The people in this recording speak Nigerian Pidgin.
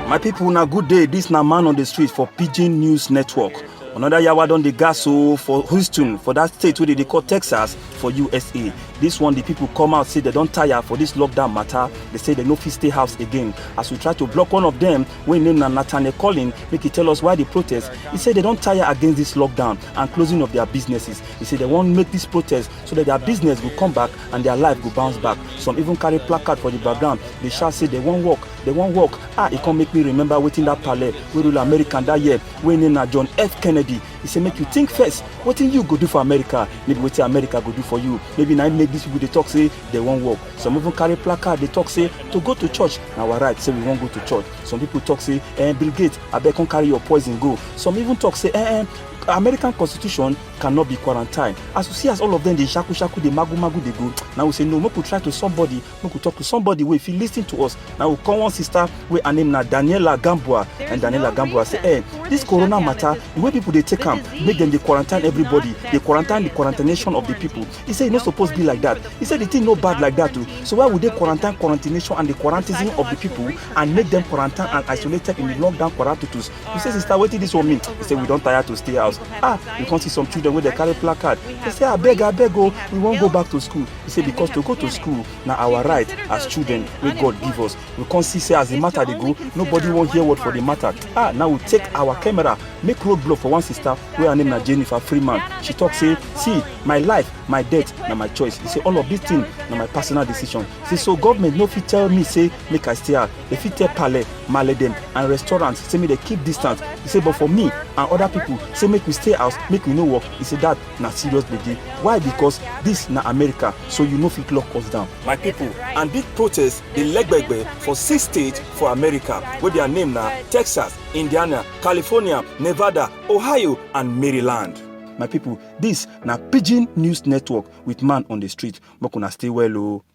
my people na good day dis na man on the street for pidgin news network another yawa don dey gas o for houston for dat state wey dey dey call texas for usa dis one di people come out say dem don tire for dis lockdown matter dey say dem no fit stay house again as we try to block one of dem wey im name na nathaniel collin make e tell us why di protest e say dem don tire against dis lockdown and closing of dia businesses e say dem wan make dis protest so dat dia business go come back and dia life go bounce back some even carry placard for di background dey shout say dem wan work dem wan work ah e come make me remember wetin dat pale wey rule america dat year wey im name na john f kennedy e say make you think first wetin you go do for america maybe wetin america go do for you maybe na im make dis pipo dey tok say they wan work some even carry placard dey talk say to go to church na our right say we wan go to church some people talk say eh, bill gates abeg come carry your poison go some even talk say eh, eh, american constitution cannot be quarantine as you see as all of them dey shaku shaku dey magu magu dey go na we say no make we try to somebody make we talk to somebody wey fit lis ten to us na we call one sister wey her name na daniela gambua and daniela gambua say eh this corona matter the way people dey take am make dem dey quarantine everybody dey quarantine the quarantination of the people He said e no suppose be like that. He said the thing no bad like that too. So why would they quarantine quarantination and the quarantism of the people and make them quarantine and isolated in the lockdown quarantitus? He said, sister, wetin this one mean? He said, we don tire to stay house. Ah, you come see some children wey dey carry placard. They say, abeg, abeg o, we wan go back to school. He said, because to go to school na our right as children wey God give us. we come see say as the matter dey go nobody wan hear word for the matter ah now we take our camera make road block for one sister wey her name na jennifer freeman she talk say see my life my death na my choice he say all of this thing na my personal decision he say so government no fit tell me say make i stay out they fit tell pale male dem and restaurants say make they keep distance he say but for me and other people say make we stay house make we no work he say that na serious gbege why because dis na america so you no fit lock us down. my pipo and big protest dey legbegbe for six states for america wey dia name na texas indiana california nevada ohio and maryland. my pipo dis na pidgin news network wit man on di street make una stay well o.